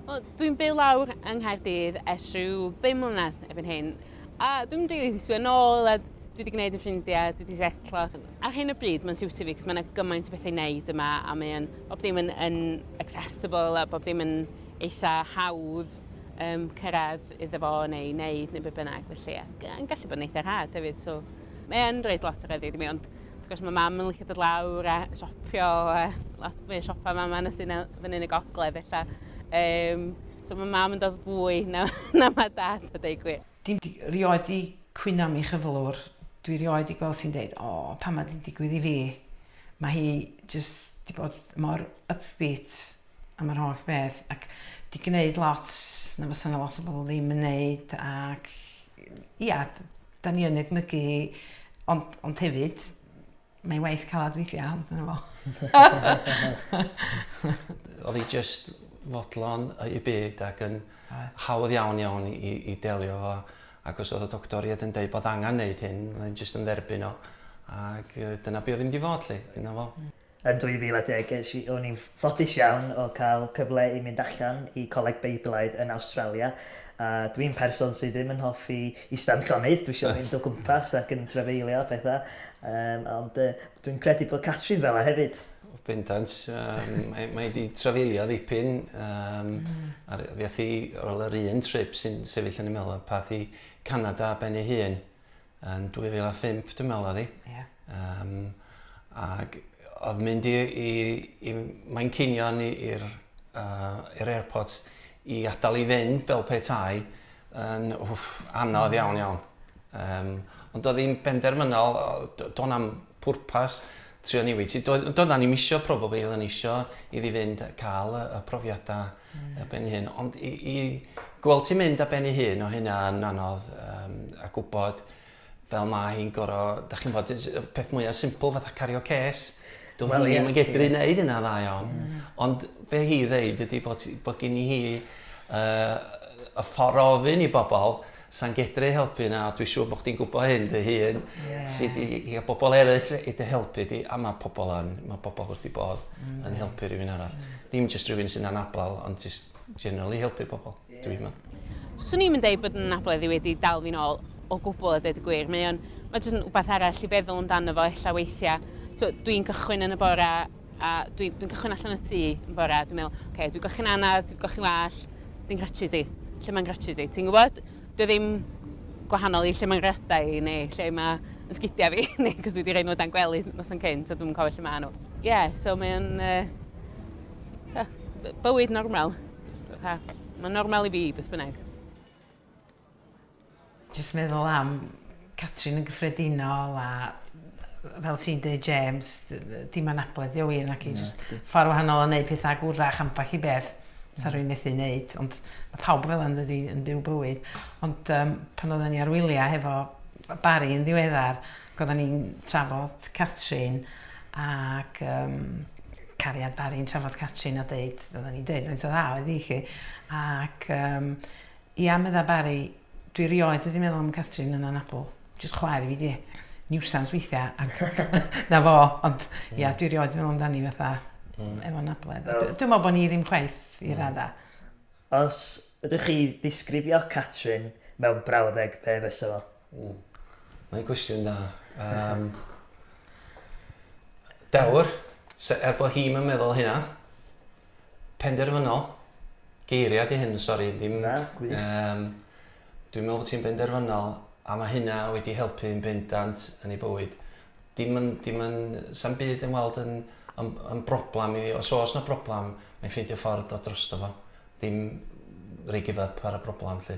Wel, dwi'n byw lawr yng Nghaerdydd ers rhyw ddim mlynedd erbyn hyn, a dwi'n mynd rili disbio nôl, a dwi wedi gwneud yn ffrindiau, dwi wedi setlo. Ar hyn o bryd, mae'n siwtio fi, cos mae yna gymaint o bethau i wneud yma, a mae'n bob dim yn, yn accessible, a bob dim yn eitha hawdd um, cyrraedd iddo fo, neu wneud, neu beth bynnag, felly, ac yn gallu bod yn eitha rhad hefyd, so mae'n rhaid lot o reddi i mi, ond Wrth gwrs mae mam yn licio dod lawr a siopio, a lot mwy o siopa mam yn ysyn fyny yn y gogledd ella. Um, so mae mam yn dod fwy na, na mae dad a dweud gwir. Dim di, rioed di cwyno mi chyflwr. Dwi rioed di gweld sy'n dweud, o, pa mae di digwydd i fi. Mae hi just di bod mor upbeat. am yr holl beth ac 'di gneud lot na fysa 'na lot o bobl ddim yn neud ac ia, 'da ni yn edmygu hi ond, ond hefyd mae'n waith calad weithiau, ond dyna fo. Oedd hi just fodlon y byd ac yn hawdd iawn iawn i, i delio fo ac os oedd y doctor i yn dweud bod angen neud hyn, oedd hi'n just yn dderbyn o ac dyna be oedd hi'n mynd i fod lle, dyna fo. Yn 2010 ges i, o'n i'n ffodus iawn o cael cyfle i mynd allan i Coleg Beiblaidd yn Awstralia, a dwi'n person sydd ddim yn hoffi ista'n llonydd, dwi isio mynd o gwmpas ac yn trafeilio a pethau, yym, ond yy, dwi'n credu bod Catrin fel 'na hefyd. Bendant, yym, mae mae 'di trafeilio ddipyn, yym, a ry- fuoth hi, wel yr un trip sy'n sefyll yn 'y mhen-ol, pa'th i Canada ar ben ei hun. yn 2005 dwi'n meddwl oedd hi. Ia. Yym ag oedd mynd i i i Manceinion i i'r uh, i'r airport i adael i fynd fel petai yn wff, anodd iawn iawn. Um, ond oedd hi'n benderfynol, do'n am pwrpas trio newid. Doedden ni'n misio probably, oedden ni isio iddi fynd cael y, y profiadau a ben ei hun. Ond i, i gweld ti'n mynd a ben ei hun o hynna yn anodd um, a gwybod fel mae hi'n goro, da chi'n bod, peth mwyaf simple fatha cario ces, dwi'n well, ddim yn gedru wneud hynna dda iawn. Mm. Ond be hi ddeud ydy bod, bod gen i hi uh, y ffordd ofyn i bobl Sa i'n gedru helpu na, dwi siŵr bod chdi'n gwybod hyn dy hun, ti 'di cael pobl eraill i dy helpu di, a mae pobl yn, mae pobl wrth eu bodd yn helpu rhywun arall. Dim jyst rhywun sy'n anabl, ond jyst generally helpu pobl, dwi'n meddwl. 'Swn i'm yn deud bod yn anabledd i wedi dal fi'n ôl o gwbl a deud y gwir, mae o'n, mae jyst yn wbath arall i feddwl amdano fo ella weithiau. Ti'n gwybod, dwi'n cychwyn yn y bore, A dwi'n dwi cychwyn allan y tŷ yn bore a dwi'n meddwl, oce, okay, dwi'n golchi'n anad, dwi'n golchi'n wall, dwi'n gratchys i. Lle mae'n gratchys i? Ti'n gwybod? Dwi ddim gwahanol i lle mae'n gradau i neu lle mae yn sgidiau fi, neu cos dwi wedi rhaid nhw dan gwely nos yn cyn, so dwi'n cofio lle mae nhw. Ie, yeah, so mae'n uh, bywyd normal. Mae'n normal i fi, beth bynnag. Jyst meddwl am Catrin yn gyffredinol a fel ti'n dweud James, dim anabledd yw hi naci, jyst ffordd wahanol o wneud pethau ac wrach ambell i beth sa rwy'n methu wneud, ond mae pawb fel yn dydi yn byw bywyd. Ond um, pan oedden ni ar wyliau hefo Barry yn ddiweddar, oedden ni'n trafod Catrin ac um, cariad Barry'n trafod Catrin a dweud, oedden ni'n dweud, mae'n so dda oedd i chi. Ac um, Ia, medda Barry, dwi 'rioed wedi meddwl am Catrin yn anabl. Jyst chwaer i fi 'di e. Niwsans weithia, ac 'na fo. Ond ia, dwi 'rioed wedi meddwl amdani fatha efo anabledd. Dwi'n meddwl bod ni ddim chwaith i radda. Os ydych chi ddisgrifio Catrin mewn brawddeg, be fysa fo? Mm. Mae'n gwestiwn da. Um, dewr, er bod hi'm yn meddwl hynna, penderfynol, geiriau di hyn, sori, ddim... Na, gwych. Um, dwi'n meddwl bod ti'n benderfynol, a mae hynna wedi helpu yn bendant yn ei bywyd. Dim yn, dim yn, sam byd yn weld yn, yn, yn broblem i, os oes na broblem, mae'n ffeindio ffordd o drosto fo. Dim rei give up ar y broblem, lle.